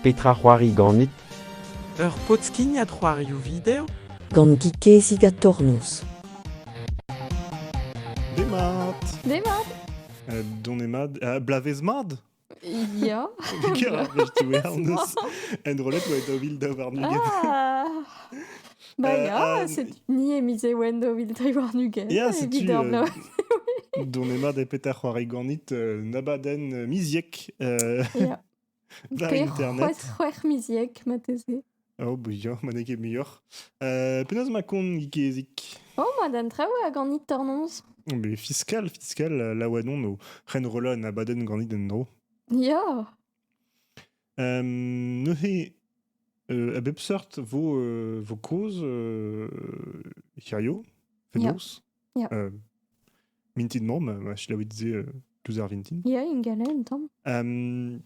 Petra c'hoari ganit Ur podskignad c'hoarioù video Gant Gikezig ha Tornoz. Demat Demat Donez-mad, euh, blavez-mad Ya. Ya, tu Enrollet oa daou vil daou warn-ugent. Ah Ba euh, ya, c'est ni e mize oen daou vil tri warn-ugent. Ya, setu... Euh, Donez-mad e petar c'hoari ganit nabaden miziek. Ya. C'hwec'h c'hwec'h miziek mateze. Oh, muioc'h, ma n'eo ket muioc'h. Euh, penaos ma kont Gikezik Oh, ma d'an traoù a ganit tornoz. Mais fiscal, fiscal, la oadon o ren rola na baden ganit en dro. Ya. Euh, neuze, euh, a bep sort vo, euh, vo koz euh, hirio, fenoz. Ja. Euh, mintin mor, ma, ma selaouit dit euh, tous ar vintin. Ja, in gale un tamm. Um,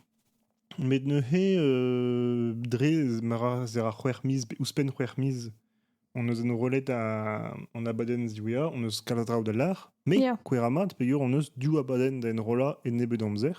met neuze, euh, dre mara zera c'hwec'h miz, ouzhpenn c'hwec'h miz, on eus en rollet a, an abadenn ziwea, on eus kalz draoù da lar, me, yeah. kouera mat, peger on eus div abadenn da enrolla e nebet amzer.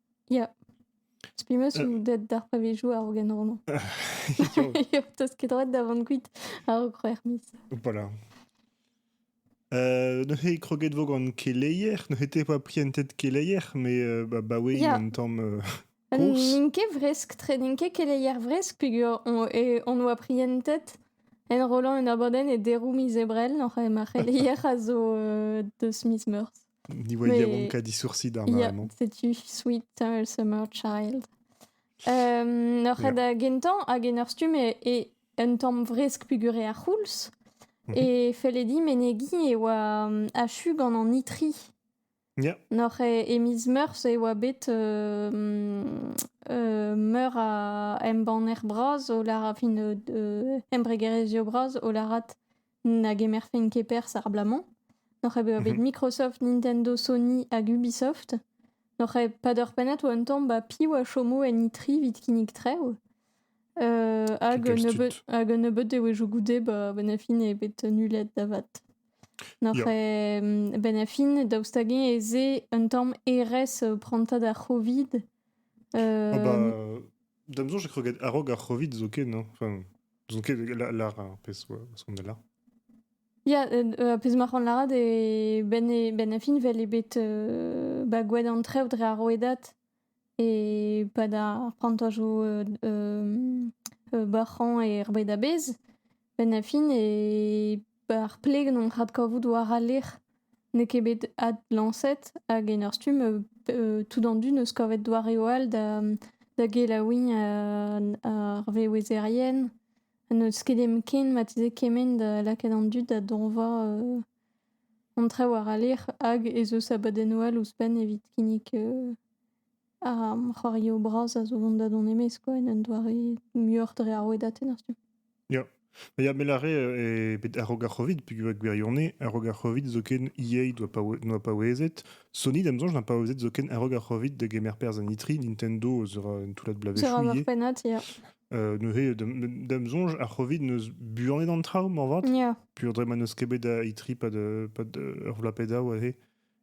Ya. Spi penaos eo deut d'ar pavezioù a-raok en horloñ. Yo, t'as ket droit da vont kuit a-raok c'hwec'h miz. Voilà. Euh, neuze kroget vo gant keleier. Neuze te pas prientet keleier, mais euh, bah, bah oui, yeah. une temps euh, course. N'int ket vresk tre, n'int ket keleier vresk, peger on, e, on oa prientet en rollant en aborden e derou miz ebrel, oc'h ma c'heleier a zo euh, deus miz meurs. Ni voyons yaouank a disourci d'ar mare-mañ. C'est you sweet, tall summer child. Um, ur red yeah. gentañ hag en ur stumm e, e un tamm vresk pugure ar c'houlz. Mm -hmm. E felle di menegi e oa um, achu gant an itri. Yeah. Nor e, e miz meurzh e oa bet uh, uh, meur a embanner bras o larat, fin uh, embregerezhio bras o larat na gemerfen ket perzh ar bloaz-mañ. N'oc'h ket bet mhm. Microsoft, Nintendo, Sony hag Ubisoft. N'oc'h ket pad ur pennad oa un tamm ba piv a chomo en E3 evit kinnig trev. Uh, hag, un nebeut, hag un nebeut dewezhioù goude ba ben a fin eo bet nullet da vat. N'oc'h mm, ben a fin, daoust hag ez eo un tamm RS euh, pranta da Covid. Uh... Ah bah, da m'zoñ, je crois a-raok ar Covid zo ken, hein. Enfin, N'ouzon ket lâra ar pezh qu'on a là. Ya, euh, pezh ma c'han lârat e ben, e ben a fin vel eo bet euh, ba gwad an trev dre ar rouedad e pad ar prantajoù euh, euh, euh, bac'hañ er bed a-bezh. Ben a fin e Ar plegenn adkavout war al lec'h n'eo ket bet adlañset hag en ur stumm tout an dud 'neus kavet doareoù all da gelaouiñ ar vewezerien. N'eus ket hepken marteze kement da lakaat an dud da dañva an traoù war al lec'h hag ez eus abadennoù all ouzhpenn evit kinnig Ar c'hoarioù bras a zo mont da dont e-maez kwa, en un doare muioc'h dre ar wedatenn ar stumm. Ya, ya me lâre e bet a-raok ar Covid peogwir gwirionez, a-raok ar Covid zoken EA doa paouez- noa paouezet, Sony da'm soñj n'a paouezet zoken a-raok ar Covid da gemer perzh en E3, Nintendo eus ur un toullad bloavezhioù ivez. Ur pennad, ya. Euh, neuze da'm da'm soñj ar Covid 'neus buanet an traoù moarvat, Ya. peogwir dre ma n'eus ket bet da E3 pad, pad ur vloaz pe daou aze.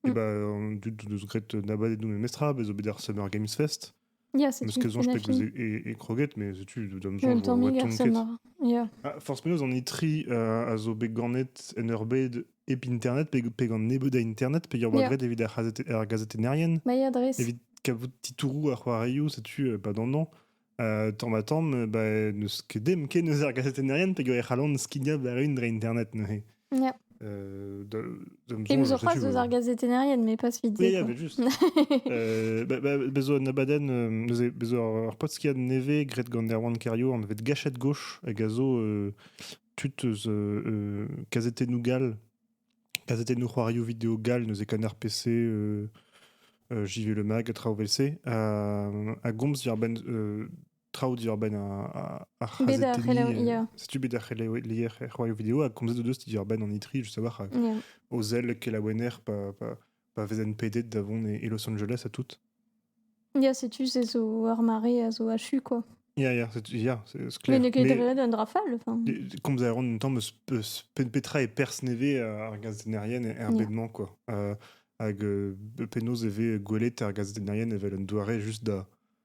Et bah, an dud deus graet nabadet nou memestra, bez obed ar Summer Games Fest. Yeah, c'est Neus ket soñj peg eus e, e kroget, mais setu d'am soñj vo ret tont ket. Yeah. Ah, Forz meus an itri uh, a zo bet ganet en ur bed ep internet, pe, pe gant nebeud a internet, pe yor yeah. gret evit ar, ar gazetennerien. Ma ya dres. Evit kabout titourou ar c'hoarioù, setu uh, pa dandan. Euh, tamm-ha-tamm, euh, bah, n'eus ket dem ken eus ar gazetennerien peger e c'hallont skignañ war-un dre Internet neuze. Yeah. Euh, de, de Et nous en face aux ar gazetennerien, mais pas suite. Oui, il y avait juste. euh, bah, bah, bezo an abaden, euh, neuze, bezo ar, ar potskiad nevez, gret gant Erwan Cario, an evet gachet gauche, hag a zo euh, tud eus euh, euh, Casete Nougal, kazetennoù c'hoarioù video gall neuze kan ar PC euh, euh, JV Le Mag, traoù vel-se, a, gomz diwar-benn euh, traoù diwar-benn ar c'hazetenniñ. Setu bet ar c'heleier c'hoarioù video a gomzet o deus diwar-benn an itri, je savoir, o zel kelaouenner pa, pa vezent pedet da vont e, Los Angeles ha tout. Ya, setu, c'est zo ur mare a zo achu, quoi. Ya, ya, c'est ya, c'est ce Mais ne gledraient un rafale, enfin. Comme ça, en même temps, petra est persnevé à argazenerienne et un bedman, quoi. Euh, hag euh, penaos e ve gwelet ar gazetennerien evel un doare juste da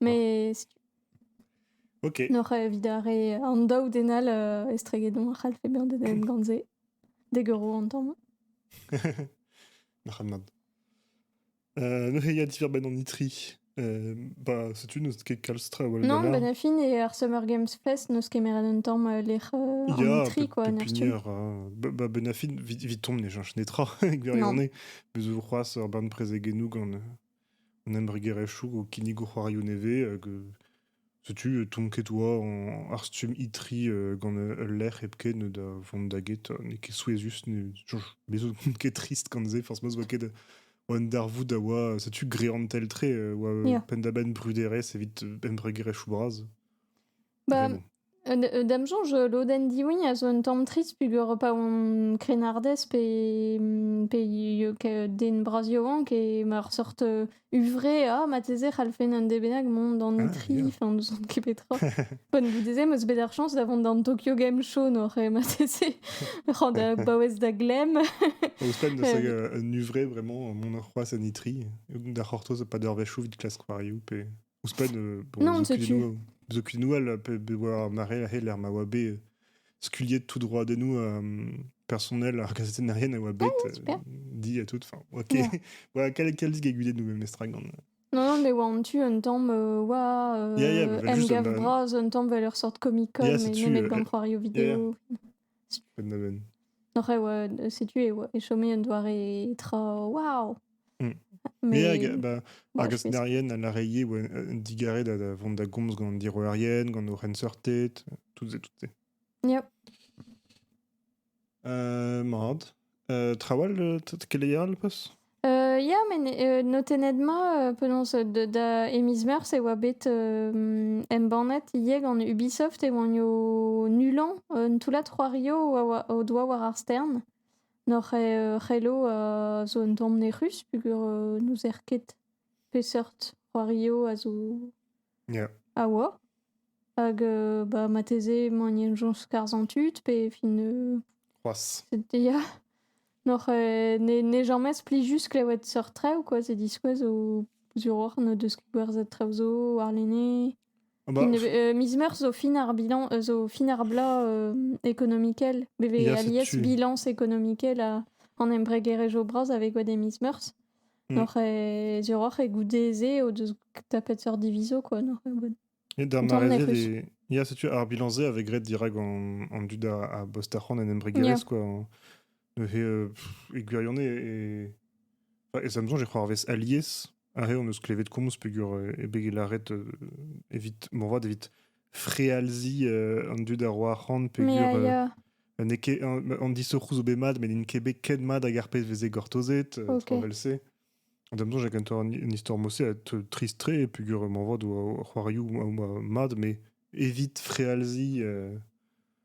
Mais Ok. N'oc'h evit ar re an daou den all euh, estregedon a c'hallfe bezañ dedennet gant se. Degero an tamm. Nac'hadnad. Euh, neuze, il y a diver-ben en Itri. Euh, bah, setu n'eus ket kalz tra awal Non, ben a fin e ar Summer Games Fest n'eus kemeret un tamm euh, lec'h euh, an ya, Itri, quoi. Pepinier, hein. Ba, ba, ben a fin, vit, vit tomb ne chanch netra, gwirione. Bezo c'hoaz ur barn prezeg eno gant euh, an embregerezhioù o kinnigo c'hoarioù nevez hag setu tonked 'oa ar stumm itri gant ul lec'h hepken da vont da get n'eo ket souezhus bez 'zo n'on ket trist gant se forzh ma 'z oa ket un darvoud a oa setu greantel-tre 'oa penn-da-benn bruderezh evit embregerezhioù bras Ba, euh, da'm soñj, euh, lodenn Diwign a zo un tamm trist pugur pa on krennardez pe, pe den bras yaouank e ma ur sort euh, huñvre, ah, mateze c'hallfen un den bennak mont d'an ah, tri, enfin, n'ouzon ket petra. Pan goude-se, m'eus bet ar chañs da vont d'an Tokyo Game Show, nor eh, mateze, rand da baouez da glem. Ouzhpenn da seg un huñvre, vraiment, mon ur c'hoaz en itri, da c'hortoz pas d'ur vechou vit klask c'hoariou pe... Ouzhpenn, bon, non, Zo nous elle peut avoir marré he l'air ma oa bet skuliet tout droit de nous personnel ar gazetennerien a oa bet ah, dit à toute fin. Ok. ouais, quel quel disque de nous même les gant. Non, mais oa an tu un temps oa euh, yeah, yeah, em gav bras un temps vel ur sort Comic Con, mais met gant c'hoario vidéo. Oc'h e oa, setu e, oa, e chome un doare tra waouh! Mm. Me hag ba, ar gastennerien a lâre ivez oa un digare da, da vont da gomz gant an diroerien, gant o c'henseurted, tout se, tout se. Yep. Euh, mat. Euh, trawal, euh, t- keleier al pas? Euh, ya, met euh, notennet-ma, euh, penaos euh, da, da e miz Meurzh e oa bet euh, embannet yeg an Ubisoft e oanio nullañ un toullad c'hoario a oa- o doa war ar stern. Nor e euh, c'hello a zo un tamm nec'hus, pugur euh, n'ouzer ket peseurt c'hoario a zo Ya. a oa. Hag euh, bah, marteze magnenjoñ skarzhañ tud pe fin... euh, C'hoazh. c'était- ya. Noc'h euh, ne, ne james plijus klevet seurt traoù quoi, c'est diskouez o zuroc'h n'o deus ket gwerzhet traoù zo warlene. Ah Bah, Fin, ne- euh, miz meurzh zo fin ar bilan, euh, zo fin ar bloaz euh, économikel. Be vez Ya, c'est alies tu. bilañs économikel a- an embregerezh o bras avec oa de miz meurzh. Mm. N'oc'h e- diorroc'h e goude-se o deus tapet seurt diviso, quoi, n'oc'h e bod. Et dans ma Autant on a réserve, l'impression. il il y a, si tu veux, ar bilan-se avec Red dirak an, an dud a, a bost ar c'hoant en embregerezh, Yeah. quoi. En- Neuze, euh, pff, e gwirion e, e, enfin, e Samsung, je crois, arvez alies, ar re on eus klevet komz peger euh, e beg e laret euh, evit, morvat evit frealzi euh, an dud a ro arc'hant peogwir Mais, euh, euh, n'eo ket an, an disoc'hoù zo bet mat met n'int ket bet ket mat hag ar pezh veze gortozet euh, Ok. evel-se en même temps j'ai quand même une, une histoire moi aussi être triste-très peogwir m'envoie do c'hoarioù ma- ma- mat mais évite frealzi euh,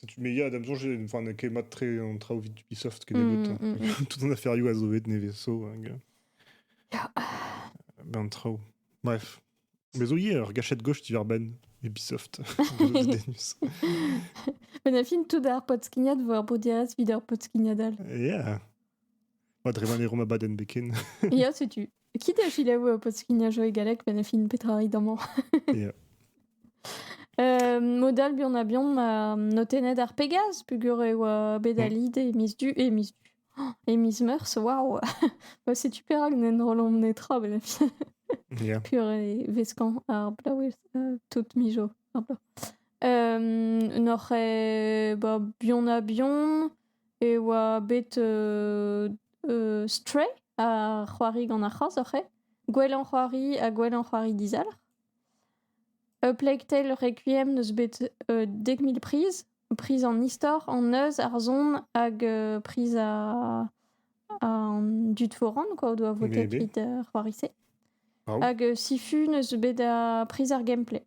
Setu me ya da me soñj enfin n'eo ket mat-tre an traoù evit Ubisoft kennebeut. Mm, mm, mm. Tout an aferioù a zo bet nevez zo hag euh, ben an traoù. Bref. Me zo ivez ur gachet gauche diwar-benn Ubisoft. Men a fin tout ar podskignad war Bodias vid ar podskignadal. Yeah. Pas drevan e rom abadenn beken. Ia, setu. Kit a chilaou au poskignajo e galek, ben a fin petra rit amañ. Ia. Euh, mod all buan a bihan ma notennet ar Pegaz, pugur e oa bet a lid e miz du, e miz du, oh, e miz meurzh, waouh! Bah, setu perak n'en rollomp netra, ben a fin. Ia. Pur e veskan ar blaouez euh, tout mijo ar bloaz. Euh, N'oc'h e, bah, bihan a bihan, e oa bet Stray a c'hoari gant ar c'hazh oc'h eo, gwellañ c'hoari ha gwellañ c'hoari dizalc'h. A Plague Tale Requiem 'neus bet dek mil priz, priz an istor, an neuz, ar son hag priz an dud foran quoi o doa votet evit ar c'hoari-se. Hag Sifu 'neus bet priz ar gameplay.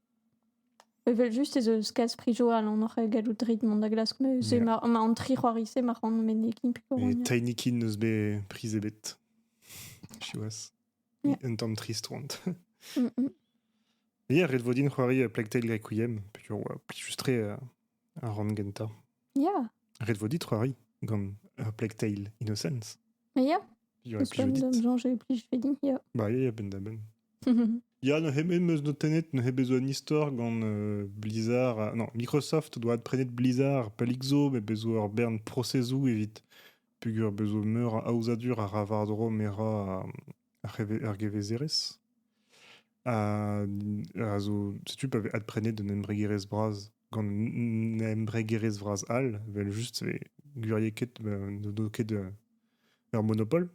Evel-just ez eus kalz prizoù a-alon oc'h gallout reiñ mont da glask se ma an tri c'hoari-se ma ran menegiñ pikouronioù. Tainikin n'eus bet priz ebet, siwazh. Un tamm trist oant. Hier, ret vo din c'hoari Plague Tale Requiem, plijus-tre ar rann gentañ. Ya. Ret vo dit c'hoari gant ur Plague Tale Innocence. Ya. Il y aurait plus judith. de me et plus je fais dit, ya. Bah, ya, ya, ben-da-ben. Ya, neuze em eus notennet neuze besoin un histoire gant euh, Blizzard. euh, non, Microsoft doit prenet Blizzard pas l'Ixo, mais besoin ur bern processoù evit pugur besoin meur a aozadur a ra vardro mera a, a, reve- ar gevezerez. a zo setu pa vez adprenet d'un embregerezh bras gant un embregerezh vras all vel just e gurier ket n'o ket ur monopole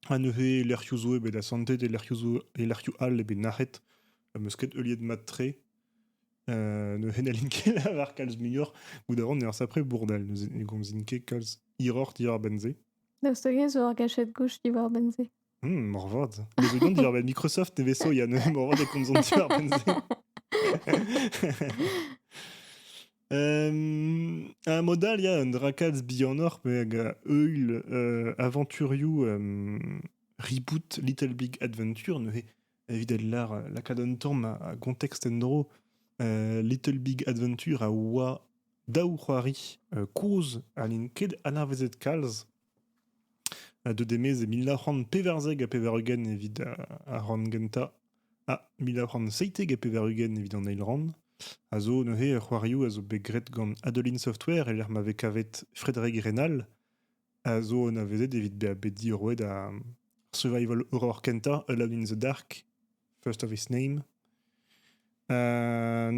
ha neuze lec'hioù zo ebet asantet e lec'hioù zo e lec'hioù all eo bet nac'het am eus ket heuliet mat-tre neuze n'hallin ket lavar kalz muioc'h goudaon ur sapre bourdel neuze ne gomzin ket kalz hiroc'h diwar benn se. Daoust hag-eñ zo ur gachet gouch diwar benn se? Hmm, moarvat. Nebeut diorren Microsoft nevez-so, ya, neuze moarvat e komzont diorren-se. Euh, un modal, il y a un Drakatz Beyondor, mais avec Eul euh, aventuriou euh, reboot Little Big Adventure, neuze, évidemment l'art, la cadonne tom à contexte endro, euh, Little Big Adventure à oa daou c'hoari euh, koz alin ket anavezet kalz, a deu e mil nav c'hant pevarzek ha pevar-ugent evit ar rann gentañ ha mil nav c'hant seitek ha pevar-ugent evit an eil rann a zo neuze c'hoarioù a zo bet graet gant Adeline Software e-lec'h ma vez kavet Frédéric Rênal a zo anavezet evit bezañ bet diorroet ar survival horror kentañ Alone in the Dark First of Its Name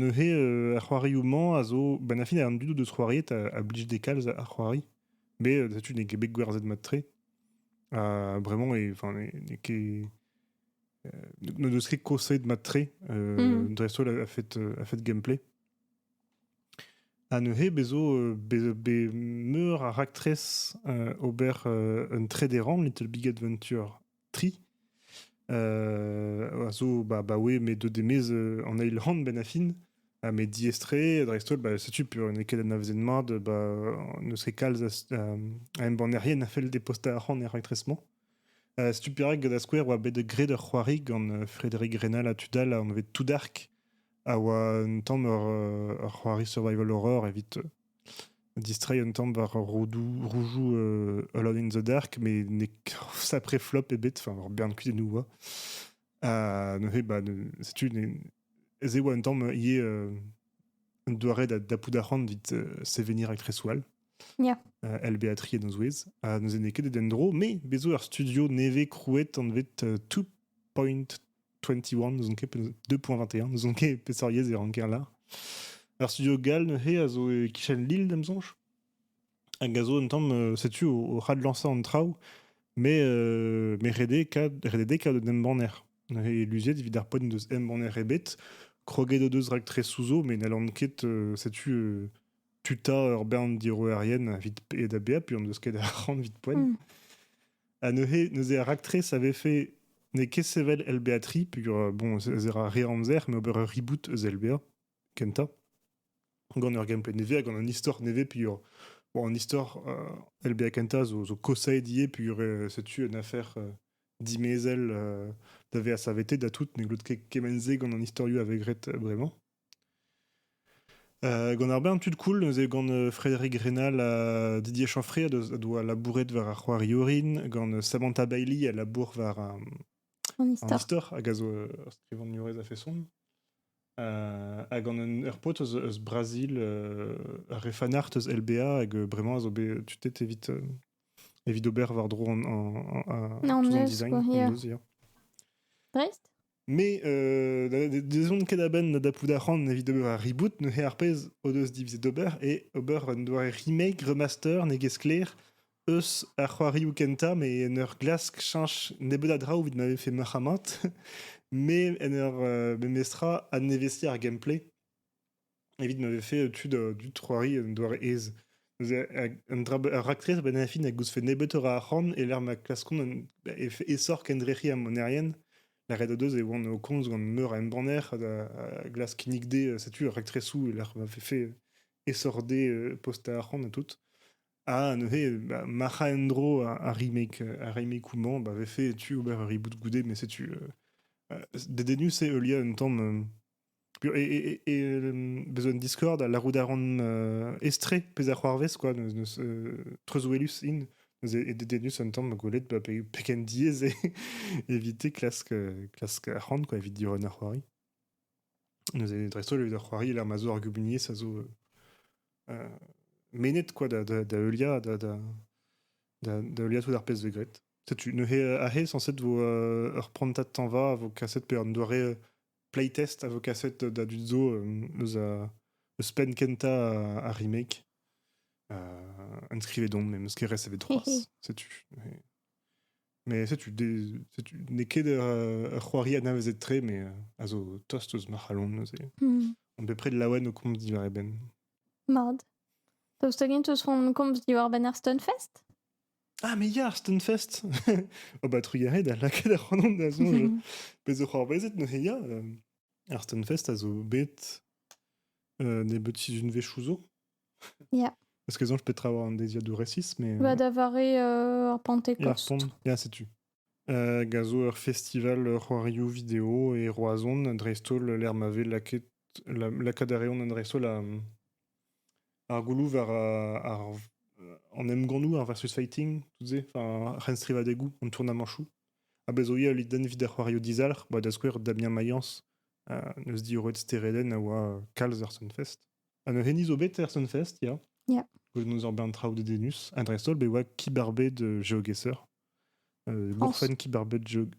neuze ar c'hoarioù-mañ a zo benn ar fin an dud o deus c'hoariet a blij dezhe kalz ar c'hoari Mais euh, setu n'es ket bet gwerzhet mat-tre. Uh, vraiment, n'es ket... Euh, ne deus ket kosait mat-tre. Euh, mm. Dreist-holl a, fait, a fait gameplay. Ha neuze bezo be, be meur a raktres ober un trederan Little Big Adventure tri, euh, a zo bah, bah ouais, mais de demez euh, en eil hand ben affin, ah, mais diestré, dreist-holl, bah, setu pur une eket na vezen mad, bah, ne serait kalz a, a embannerien a fel de posta ar c'hant er raktresement. Uh, setu pirag gant a skouer oa bet gred ur c'hoari gant euh, Frédéric Renal a tudal a on avait tout dark a oa un tamm ur, euh, ur c'hoari survival horror evit distreiñ un tamm war roudoù, roujoù euh, Alone in the Dark, mais n'e sacré flop ebet, enfin, ur bern kudennoù oa. Ha neuze, bah, setu, ez eo un tamm ivez euh, un doare da d'appout arc'hant vit euh, sevenir ak Reswal. Yeah. Uh, El Beatri en ouez. Ha neuze n'eo ket den dro, mais bezo ur studio nevez krouet anvet euh, 2.2 21, n'ouzon ket, 2.21, n'ouzon ket peseurt yezh e ranker là. Ar studio Gal neuze a zo e kichen Lille, d'am sonj. Hag a zo un tamm, euh, setu, au, ras de lancer en traoù, mais, euh, mais redé ka, redédé ka d'un embanner. Et l'usiet evit ar poen deus embanner ebet, kroget o deus rak tre souzo, mais n'allan ket, euh, setu, euh, tu ta ur bern diroerien evit pe da bea, puis on deus ket ar ran evit poen. Mm. Ha neuze, neuze ar raktres a vefe n'eo ket sevel LBA 3, peogwir, bon, ez a re-amzer, mais ober ur reboot eus LBA, kentañ, gant ur gameplay nevez, gant un histoire nevez, peogwir, bon, an histoire euh, LBA kentañ zo, zo kosaet ivez, peogwir euh, setu une affaire euh, dimezell euh, da vezañ savetet da tout, ne glot ket kemenn-se gant an historioù avegret euh, bremañ. gant ar bern tud cool neuze gant Frédéric Rénal ha Didier Chanfray a doa labouret war ar c'hoari orin gant Samantha Bailey a labour war an istor hag a zo ur skrivagnerez a-feson ha gant ur paotr eus Brazil ur refanart eus LBA hag bremañ a zo bet tutet evit evit ober war-dro an design dreist Mais euh, dezont ket a-benn da pout arc'hant evit ober ar reboot, neuze ar pez o deus divizet d'ober eo ober un doare remake, remaster, ne get sklaer, eus ar c'hoarioù kentañ, mais en ur glask cheñch nebeut a draoù evit ma vefe marc'hamant, mais en ur euh, memestra adnevesiñ ar gameplay. evit ma vefe tud dud c'hoari un doare aes. Neuze, un dra, ur raktres a-benn ar fin a gousfe nebeutoc'h a arc'hant e-lec'h ma klaskont un esoc'h kendrec'hiñ amonerien. Lâret o deus e oant o komz gant meur a embanner a, glask kinnig dezhe setu ur raktresoù e-lec'h ma vefe esoc'h dezhe postañ arc'hant ha tout. Ha neuze, bah, mac'h a en-dro ar remake. Ar remakeoù-mañ, bah, vefe tu ober ur reboot goude, mais setu... dedennus eo heuliañ un tamm e, bezo un Discord a larout a ran euh, estre pezh a c'hoarvez quoi neus euh, treuzwelus in neus e dedennus un tamm gwelet ba pegen diaes eo evite klask klask ar c'han quoi evit diorren ar c'hoari neus e dreist-holl evit ar c'hoari ler ma zo ar gumuniezh a zo euh, menet quoi da da da heuliañ da da da da heuliañ tout ar pezh vez graet setu neuze ahe sañset vo ur prantad tañva a vo kaset pe an doare playtest a vo kaset da dud zo eus eus penn kentañ ar remake. Euh, inscrivez-donc, mais Muskeres avait trois. Setu. Mais setu, n'es ket ur c'hoari anavezet tre, mais a zo tost eus ma c'halon neuze. Hmm. On bepred laouen o komz diwar e benn. Mard. Daoust hag-int eus hon komz diwar benn ar Stunfest? Ah, mais ya, Stunfest! Oh bah, trugarez da lakaet ac'hanon da soñj, pezh zo c'hoarvezet neuze, ya, hem, ar Stunfest a zo bet, heu, nebeuti unvezhioù zo. Ja. Parce que soñj petra war an deiziad du récits, mais, Bah, heu d'avoir eu, heu, ar Ia, Pentecôte. pont ia, setu. Heu, hag a zo ur festival, heu, c'hoarioù vidéo et Roazhon, dreist-holl, lec'h ma vez lakaet la lakaat a reont an dreist-holl a, mmh Ar gouloù war ar an emgannoù, ar versus fighting, tout se, enfin ar c'henstrivadegoù, an tournamañchoù. A bezo ivez ul den evit ar c'hoarioù dizalc'h, ba da skouer Damien Mayence, neus diorroet steredenn a oa kalz er Sunfest. Ha neuze hini zo bet er Sunfest, ya. Ya. Gwelet 'neus ur bern traoù dedennus, ha dreist-holl be oa kibarbed geogheser. Gourfenn kibarbed geog-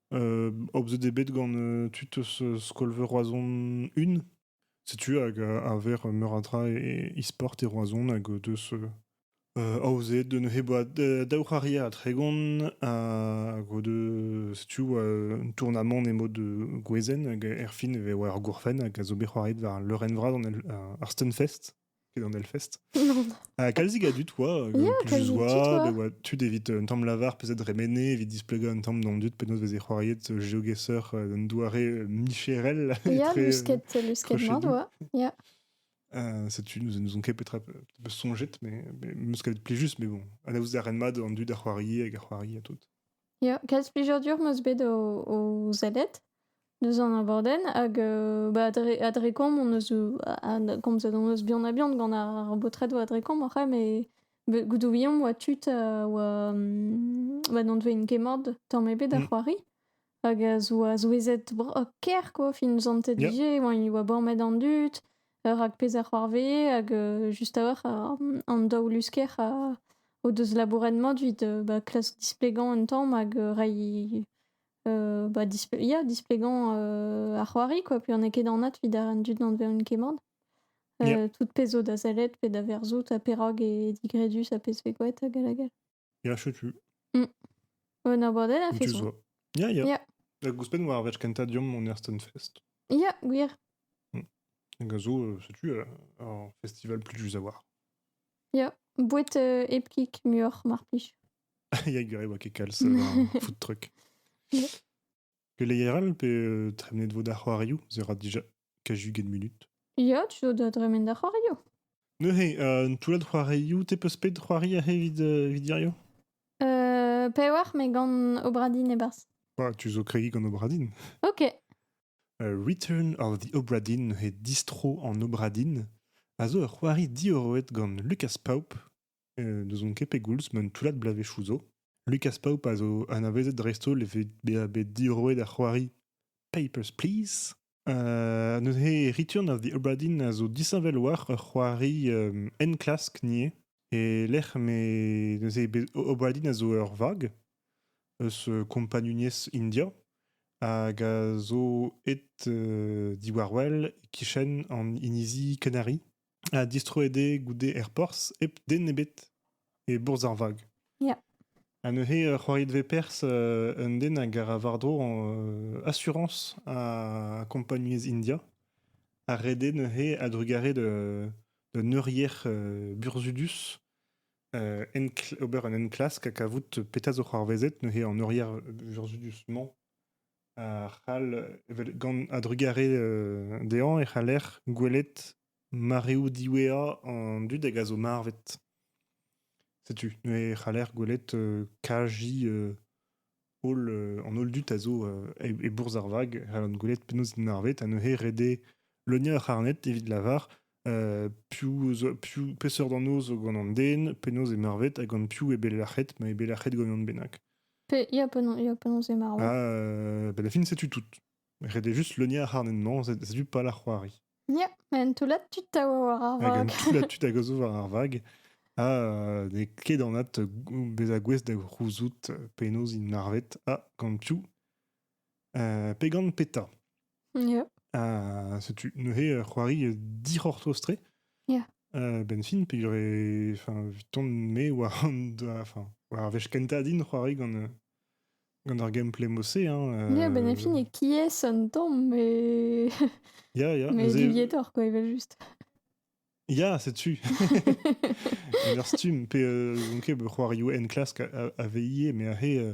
Euh, aozet eo bet gant euh, tud eus euh, skol-veur Roazhon 1. Setu hag a ver meur a dra e e-sport e Roazhon hag deus aozet de neuze boa daou c'haria a Tregon hag de setu un tournamant emo de gwezen hag erfin e vo ar gourfen hag a zo bet c'hoaret war leurenn vras an ar Stunfest. Quel en Hellfest Non. Ah, calzik a dud, oa, euh, Ya, plus calzik oa, oa. oa tud evit euh, un tamm lavar peuzet remenez, evit displegañ un tamm d'an dud penaos veze c'hoariet euh, geogesseur euh, un doare euh, micherel Ya, etre euh, lusket, lusket entre chez mat, nous. oa. Ya. Euh, setu, nous nous ont ket peut-être un peu sonjet, mais, mais meus kavet plijus, mais bon, anaout a ren mat an dud a c'hoari hag a c'hoari a tout. Ya, kalz plijadur 'm eus bet o, o sellet. Deus an abadenn hag euh, bah, dre, à Drécombe, on eus, euh, a- komzet hon eus bihan-ha-bihan gant ar baotredoù a Drécombe oc'h met be- goudoùiomp oa tud a oa mm, ma n'anvent ket mat tamm ebet ar Mm. c'hoari hag a zoa souezhet bro- ker quoi fin zantet Yeah. dije oa i oa bormet an dud euh, rak pezh a c'hoarvee hag euh, just a-walc'h a- an daou lusker a- o deus labouret mat evit euh, bah, klask displegañ un tamm hag euh, reiñ euh, bah, ya, displéguant euh, ar c'hoari, quoi. Puis on est ket anat vid ar an dud an veun kemant. Euh, tout pezh da sellet pe da verzout ha perag e digredus ha pezh vegouet hag hag hag. Ya, chetu. Mm. Un abordel a fait ça. Ya, ya. Ya. Da gouspenn war verch kenta diom on Ersten Fest. Ya, gwir. Mm. Hag a zo, euh, setu, euh, ar festival plus a voir. Ya, bouet euh, epkik muioc'h, mar plij. Yann oa ket kalz euh, foot truck. Keleier pe euh, tremenet vo da c'hoarioù Ze ra dija kajuget minut. Ya, tu do da dremen da c'hoarioù. Neuze, euh, un toullad c'hoarioù, te peus pet c'hoari ahe vid, euh, vid dirio Euh, pewar, me gant Obradin e barz. Ah, tu zo kregi gant Obradin. Ok. Uh, Return of the Obradin, he distro en Obradin, a zo ur c'hoari diorroet gant Lucas Paup, N'ouzon ket pegoulz ma un toullad bloavezhioù zo, Lucas Paup a zo anavezet dreist-holl evit bezañ bet diorroet ar c'hoari Papers, Please. Uh, neuze Return of the Obra Dinn a zo disheñvel war ur c'hoari um, enklask ivez e-lec'h me neuze bet Obra Dinn a zo ur vag eus uh, kompagnuniezh India hag a zo aet uh, diwar-wel e-kichen an inizi Canary. ha distroet eo goude er porzh hep den ebet e bourzh ar vag. Ya. Ha neuze euh, c'hoariet vez perzh euh, un den hag a ra war-dro euh, asurañs a kompagnunezh India a rede neuze a-drugarez de d'un eurier euh, burzudus euh, ober un enklask ha kavout petra zo c'hoarvezet neuze en eurier burzudus-mañ a c'hall, evel gant a-drugarez dezhañ, e c'haller gwelet mareoù diwezhañ an dud hag a zo marvet. Setu neuze e c'haller gwelet kaji holl, an holl dud a zo e bourzh ar vag, e c'hallont gwelet penaos int marvet, ha neuze ret eo leuniañ ur c'harned evit lavar piv, peseurt anv zo gant an den, penaos eo marvet, ha gant piv eo bet lac'het, ma eo bet lac'het gant unan bennak. Pe- Ya, penaos, ya, penaos eo marv. Ah, euh, ben la fin, setu tout. Redez juste le nien harnennement, setu pas la c'hoari. Ya, en toullad tu ta war ar Hag vag. an tout la tu a gozo war ar vag. Ha euh, n'eo ket anat beza gouest da c'houzout penaos int marvet. Ah, gant piou? Pegan Peta. Yeah. setu neuze c'hoari dic'hortoz-tre. Yeah. benfin, pe j'aurais enfin tourné war an enfin war ar wech kentañ din c'hoari gant gant ar gameplay mossé hein. Yeah, benfin e qui est un temps mais yeah, yeah, mais Deviator quoi, il va juste. Ya, setu. Merstume, pe euh, donc, c'hoari en classe à, à veiller, mais ahe euh,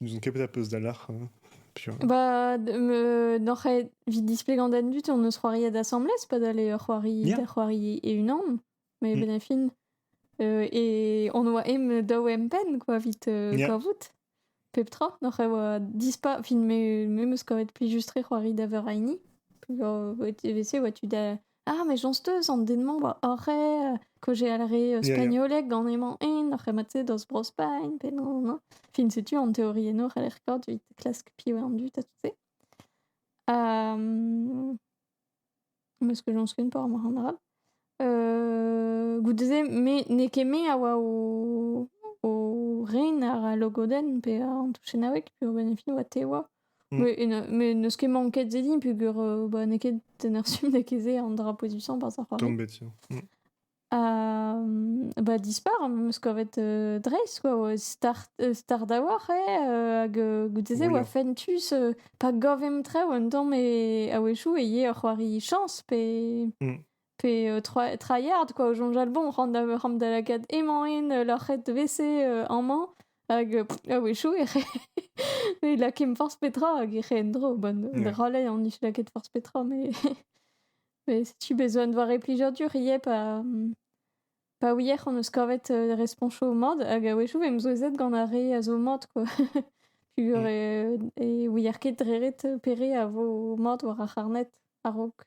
N'ouzon ket petra peus dalc'h. hein. Piv- Bah, d- me- n'oc'h evit displegañ d'an dud, on eus c'hoari d'assemblées, pas d'aller euh, c'hoari, Yeah. da c'hoari e-unan, mais Mm. ben a fin. euh, et on oa em daou empenn, quoi, vit euh, Yeah. kavout. Pep tra, n'oc'h e oa dispa, fin, me me meus kavet plijus-tre c'hoari da veur a hini. Peus- e vese oa tu da Ah, mais j'en steus an den-mañ oa oc'h euh, que j'allerais euh, Ya, ya. spagnoleg gant emañ en oc'h emañ te deus Bro-Spagn pe non, non. Fin setu an teori eno c'haller kaout evit klask piv eo an dud ha tout se. Hem, meus que j'en skun pas ar moc'h an arall. Euh, goude-se, me n'eo ket me a oa o, o ren àr al logodenn pe an touchennaoueg, puis o benn e fin oa te oa. Mais n'eus ket manket ze din, peogwir euh, bah, n'eo ket en ur stumm da ket ze an dra position par ar c'hoari. Tombation. Mm. Euh, bah, dispar, meus kavet euh, dreist, quoi, oa start, euh, start awoc'h, eh, euh, hag euh, goude-se oa fentus euh, pa gavemp traoù un tamm e a-wechou e ye ur c'hoari chañs pe... Mm. pe euh, tryhard quoi, au jonjal bon, rend da, rend da lakaat emañ en euh, leur c'het vc euh, amañ, hag ah oui chou, e re, e lakim forz petra, hag e re endro, bon, yeah. drolei an is laket forz petra, mais, mais si tu besoin de voir plijour dur, ie pa, pa ouier on eus kavet euh, responcho au mod, hag a wechou em zouezet gant ar re a zo mod, quoi. Pugur mm. e, e ouier ket dreret pere a vo mod war ar c'harnet, a-raok.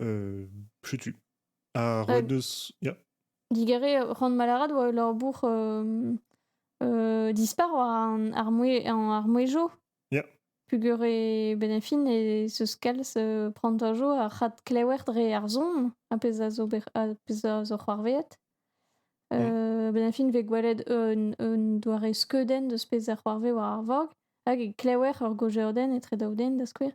Euh, setu. Ar Ouais, neus... Yeah. digare euh, rand malaraat oa leur bourc'h euh, euh, dispar war an ar mouez en ar mouezjo. Yeah. Pugur e benefin e se scals euh, prantajo ar c'hat klewer dre ar zon, a pezh a zo ber- a pezh a zo c'hoarveet. Yeah. Euh, benefin vez gwelet un, un doare skeudenn deus pezh a c'hoarve war ar vog, hag e klewer ur gojaodenn etre daou den da skouer.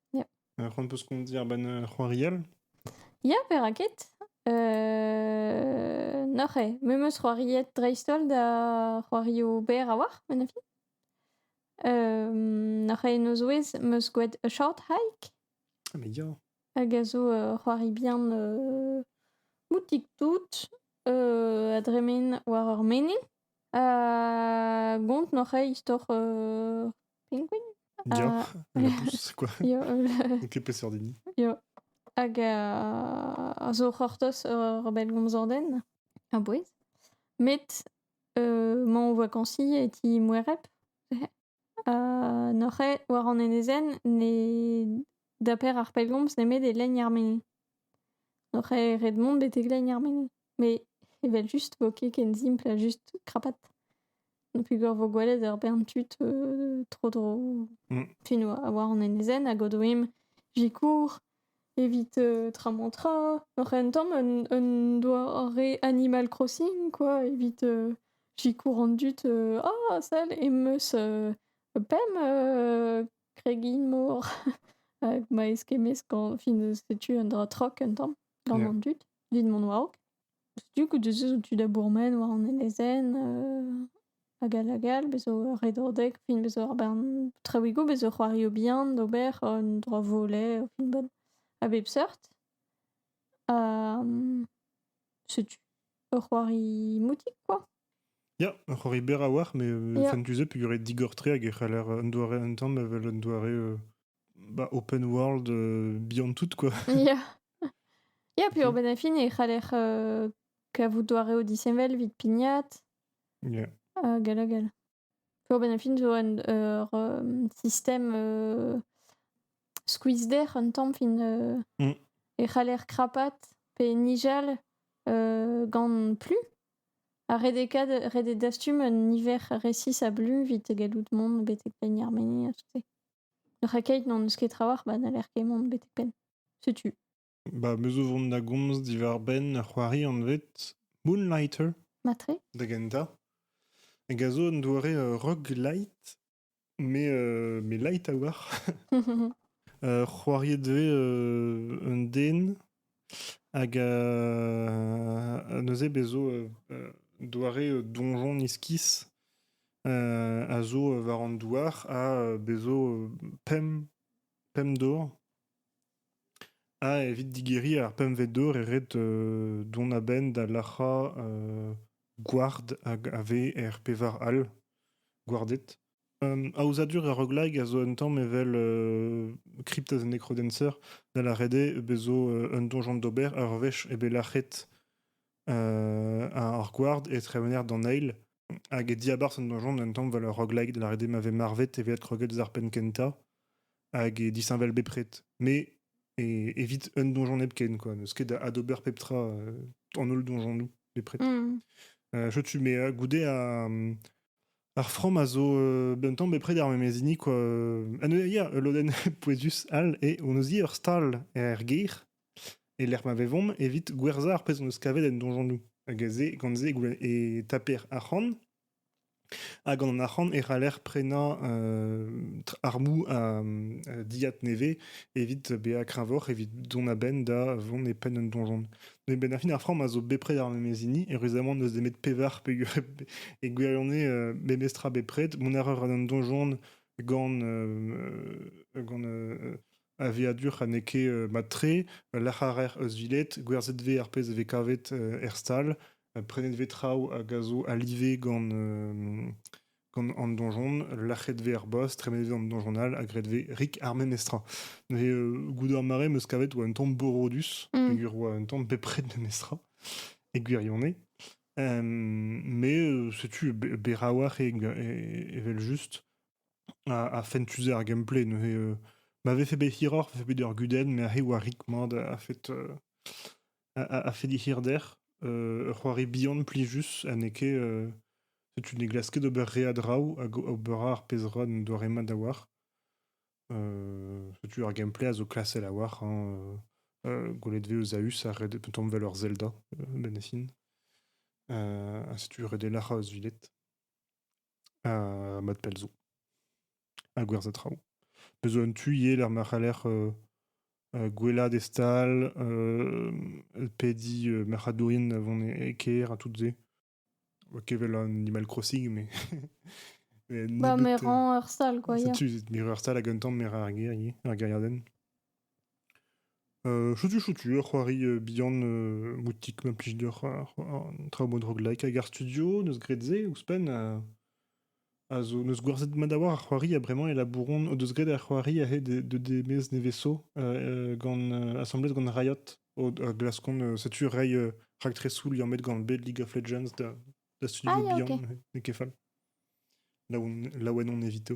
Alors, on peut ce qu'on dit ar ben euh, c'hoarial Ya, perak ket? Euh... Noc'he, me meus c'hoariet dreist-holl da c'hoario berr a-walc'h, ma nafi. Euh... Noc'he en o zouez meus gwelet A Short Hike, Ah, mais ya hag a zo euh, c'hoari bihan euh, moutik-tout euh, a dremen war ur menhin. Gont n'oc'h aet istor Penguin? Ya, labous, quoi. Ya, N'on ket peseurt hini. ya. Hag a zo c'hortoz ur bellgomzer den a-bouez. Met mañ o vakansi e ti Moereb. Neuze, war an enezenn, ne daper ar pellgomz nemet e lenn ar mene. Neuze ret mont betek lenn ar mene. Met evel-just 'vo ket ken simpl ha just krapat. Peogwir 'vo gwelet ur bern tud tro-dro fin war an enezenn hag o doe 'm sikour. Evit tramor-tra, oc'h un tamm un doare Animal Crossing quoi, evit sikour an dud ah sell em eus pemp kregin-mor ma eskemmez gant, fin setu un dra trok un tamm gant an dud, evit mont war-raok. Setu ke deus eus an tu da bourmen war an enezenn hag all hag all. Bezo ur redadeg, fin bezo ar bern traouigoù, bezo c'hoarioù bihan d'ober, un dra volet o finval a bep seurt. Ha setu ur c'hoari moutik kwa. Ya, ur c'hoari berr a-walc'h, met fentus eo peogwir eo digor-tre hag e c'haller un doare un tamm evel un doare bah, open world euh, beyond tout, quoi. Ya. Ya, puis Urban Affin, il c'haller euh, kavout doareoù disheñvel vit pignat. Yeah. Euh, gal hag gal. Urban Affin zo un ur euh, system euh, squeeze der un tamm fin euh, Mm. e c'haller krapat pe nijal euh, gant plu. Ha redekad, redet dastum un niver resis a blu vit gallout mont betek penn ar meni ha tout-se. Ur keit n'on eus ket trawalc'h ba n'haller ket mont betek penn. Setu. Ba me zo vont da gomz diwar-benn ur c'hoari anvet Moonlighter Matre? da gentañ. Hag a zo un doare euh, rock light, mais, euh, mais light a oar. Euh, c'hoariet 'vez euh, un den Hag euh, neuze bez' zo euh, euh, doare euh, donjon iskis euh, a zo euh, war an douar ha euh, bez' zo euh, pemp pemp dor ha evit digeriñ ar pempvet dor e ret euh, dont a-benn da lac'hañ euh, gward hag a vez er pevar all gwarded. Aozadur ar roguelike a zo un tamm evel Crypto's Necrodancer, da lâret eo bet zo un donjon d'ober ur wech eo bet lâret ar gward e tremener d'an eil hag e diabarzh an donjon un tamm 'vel ur roguelike, da lâret eo ma vez marvet evel kroget eus ar penn kentañ hag e disheñvel bepred. Me evit un donjon hepken kwa, n'eus ket adober pep tra an holl donjonoù bepred. Setu me goude Ar from a zo un tamm bepred er memes hini quoi. En eur ul lodenn pouezus all eo hon eus ur stal er gêr e lec'h ma vevomp evit gwerzhañ ar pezh hon eus kavet en donjanoù. Hag aze, gant se e taper arc'hant. Ha gant an arc'hant e c'haller prenañ armoù a dilhad nevez evit bezañ kreñvoc'h evit dont a-benn da vont e penn un donjon. Mais Ben Affleck ar framm a zo bepred ar memes hini, et récemment on deus demet pevar peguer e gwirione euh, memestra bepred. Mon erreur a d'an donjon gant euh, gant euh, aviadur ha n'eo ket euh, matre, lac'harer eus vilet, gwerzhet vez ar pezh e vez kavet euh, er stal, euh, prenet vez traoù hag a zo alive gant euh, Gant an donjon, lac'het vez ar boss, tremenet vez an donjon all, ha graet vez rik ar memes tra. Neuze, euh, goude ar mare, meus kavet oa un tamm borodus, mm. peger oa un tamm bepred memes tra, e gwirionez. Um, mais euh, setu berawac'h e, e, evel just a, a fentuze ar gameplay. Neuze, euh, ma vefe bet hiroc'h, vefe bet ur gudenn, mais a oa rik mat a fait... Euh, a, fait dit hirder. Euh, ur c'hoari bihan plijus ha n'eo ket... Euh, setu ne glask ket ober re a draoù hag ober ar pezh ra n'en doare mat da war. Euh, setu ar gameplay a zo klasel a war. Hein, euh, gwelet vez eus Aus a red tomm vel ur Zelda, euh, benefin. Uh, setu ret elar eus vilet. ha mat pell zo. Ha gwerzhañ traoù. Bez' zo un tu ivez lec'h ma c'haller euh, euh, gwelaat e stal, euh, pediñ euh, marc'hadourien vont e kêr ha tout se. Ok, wel Animal Crossing, mais... mais Bah, mais nebeut, euh, rends heur sale, quoi. ça hier. tue, Mirror Star à Guntown, mais ar guerrier, ar guerriarden. Chotu-chotu ur c'hoari bihan moutik ma plij deoc'h an traoù bodroglek hag ar studio neus graet se ouzhpenn a zo neus gwerzhet mat a-walc'h ar c'hoari ha bremañ e labouron o deus graet ar c'hoari aze de demez nevesañ gant asambles gant Riot o glaskont setu reiñ raktresoù liammet gant bet League of Legends da studio bihan n'eo ket fall laouen on evito.